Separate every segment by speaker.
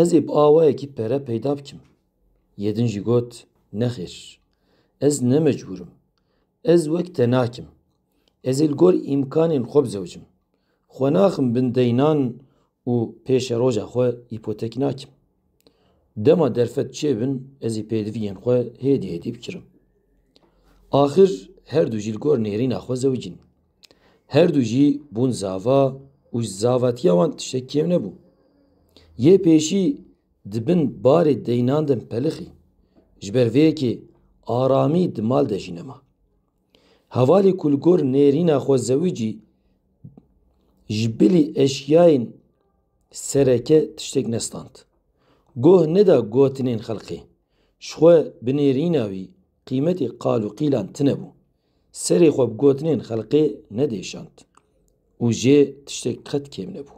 Speaker 1: Ez ê bi awayekî pere peyda bikim. Yedin jî got, Nexêr, ez ne mecbûr im. Ez wek te nakim. Ez ê li gor îmkanên xwe bizewicim. Xwe naxim bin deynan û pêşeroja xwe îpotek nakim. Dema derfet çê bin ez ê pêdiviyên xwe hêdî hêdî bikirim. Axir her du jî li gor nêrîna xwe zewicîn. Her du jî bûn zava û ji zavetiya wan tiştek kêm nebû. Yê pêşî di bin barê deynan de pelixî. Ji ber vê yekê aramî di mal de jî nema. Hevalê ku li gor nêrîna xwe zewicî ji bilî eşyayên sereke tiştek nestand. Goh neda gotinên xelkê. Ji xwe bi nêrîna wî qîmetê qal û qîlan tine bû. Serê xwe bi gotinên xelkê nedêşand û jê tiştê qet kêm nebû.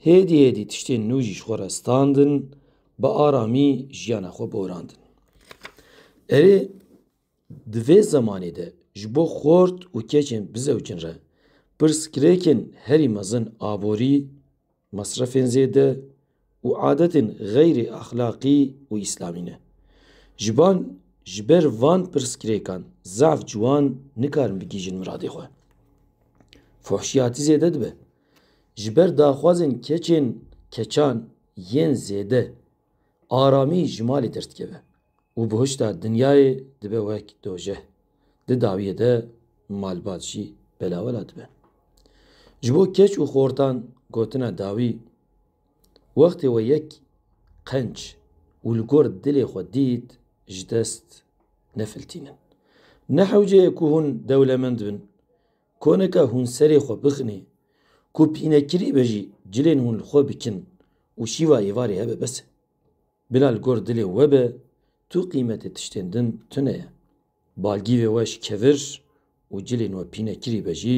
Speaker 1: Hêdî hêdî tiştên nû jî ji xwe re standin, bi aramî jiyana xwe borandin. Erê di vê zemanê de ji bo xort û keçên bizewcin re pirsgirêkên herî mezin aborî, Mesrefên zêde û adetên xeyrê exlaqî û îslamî ne. Ji van ji ber van pirsgirêkan zaf ciwan nikarin bigihîjin miradê xwe. Fuhşiyatî zêde dibe. Ji ber daxwazên keçên keçan yên zêde. Aramî ji malê derdikeve û bi hişta dinyayê dibe wek dojeh. Di dawiyê de malbat jî belawela dibe. Ji bo keç û xortan gotina dawî wextê we yek qenc û li gor dilê xwe dît ji dest nefiltînin. Ne hewce ye ku hûn dewlemend bin, Koneka hûn serê xwe bixinê ku pînekirî be jî cilên hûn li xwe bikin û şîva êvarê hebe bes e. Bila li gor dilê we be tu qîmetê tiştên din tune ye. Balgî vê we ji kevir û cilên we pînekirî be jî